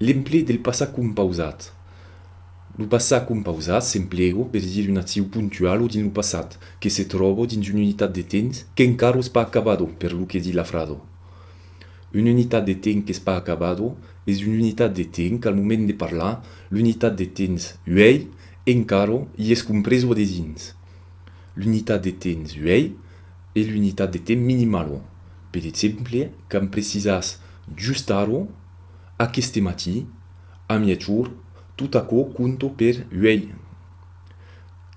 L'emplegue del passat compausat. Lo passat compausat s'emplega per dire una accion puntuala dins lo passat que se tròba dins una unitat de temps qu'encara es pas acabada, per lo que di la frasa. Una unitat de temps qu'es pas acabada es una unitat de temps qu'al moment de parlar l'unitat de temps uèi encara i es compresa dedins l'unitat de temps uèi e l'unitat de temps minimala. Per exemple, quand precisas Just ara, aqueste matí, a miègjorn, tot aquò conta per uèi.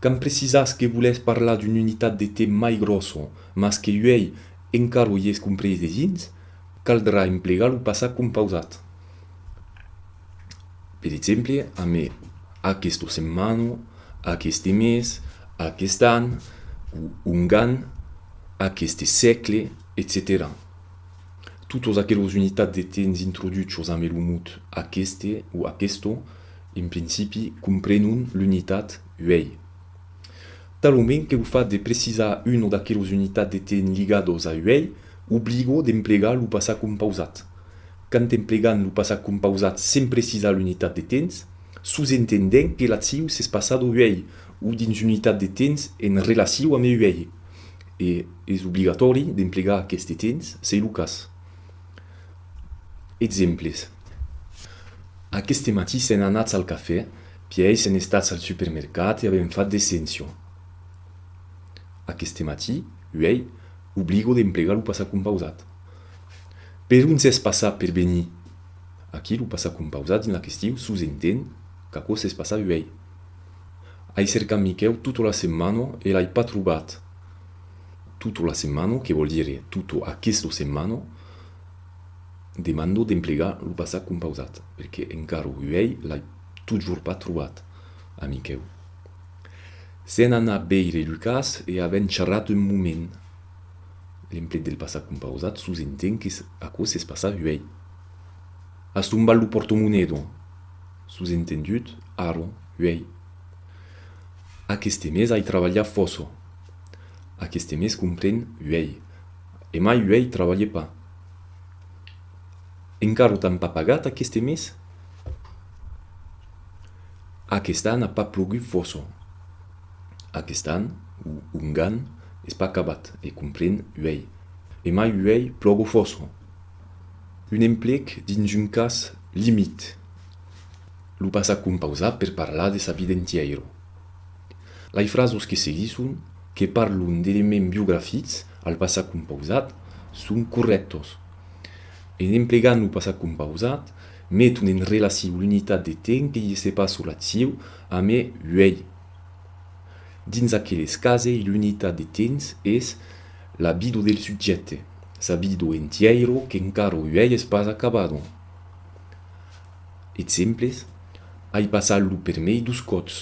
Quand precisatz que volètz parlar d'una unitat de temps mai gròssa, mas que uèi encara i es comprés de dins, caldrà emplegar lo passat compausat. Per exemple, amb aquesta setmana, aqueste mes, aquest an, o ongan, aqueste sègle, etcetèra. Totes aqueles unitats de temps introduchos ambe lo mot aqueste o aquesto, en principi, comprenon l'unitat uèi. Talament que lo fat de precisar una d'aqueles unitats de temps ligados a uèi obligo d'emplegar lo passat compausat. Quand emplegam lo passat compausat sens precisar l'unitat de temps, sosentendèm que l'acciu s'es passado uèi o dins l'unitat de temps en relaciu ambe uèi. E es obligatòri d'emplegar aqueste temps s'ei lo cas. Exemples, Aqueste matí sèn anats al cafè, pièi sèn estats al supermercat e avèm fat de cension. Aqueste matí, uèi, obligo d'emplegar lo passat compausat. Per uns es passat per venir. Aquí lo passat compausat dins la question sosentend qu'aquò s'es passat uèi. Ai cercat Miquèu tota la setmana e l'ai pas trobat. Tota la setmana, que vòl dire tota aquesta setmana, demando d'emplegar lo passat compausat, perque encara uèi l'ai totjorn pas trobat, a Miquèu. Sèn anat veire Lucas e avèn charrat un moment. L'emplet del passat compausat sosenten qu'es aquò s'es passat uèi. As tombat lo portomonedon! Sosentendut, Aron, uèi. Aqueste mes ai trabalhat fòço. Aqueste mes compren, uèi. E mai uèi trabalhe pas. Encara t'an pas pagat aqueste mes? Aquest an a pas plogut fòço. Aquest an, o ongan, es pas acabat, e compren, uèi. E mai uèi plògo fòço. Un emplec dins un cas limit. Lo passat compausat per parlar de sa vida entièira. Lai frasos que seguisson, que parlon d'elements biografics al passat compausat, son corrèctos. En emplegant lo passat compausat, meton en relaciu l'unitat de temps que i se passa la ciu a me uèi. Dins aqueles cases l'unitat de temps es L'abido del subjècte, s'abido entièiro qu'encara uèies pas acabado. Exemples, Ai passat lo permei dos còps.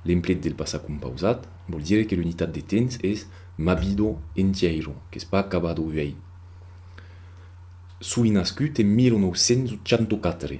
L'emplet del passat compausat vòl dire que l'unitat de temps es m'abido entièiro, qu'es pas acabado uèi. Soi nascut en 1984.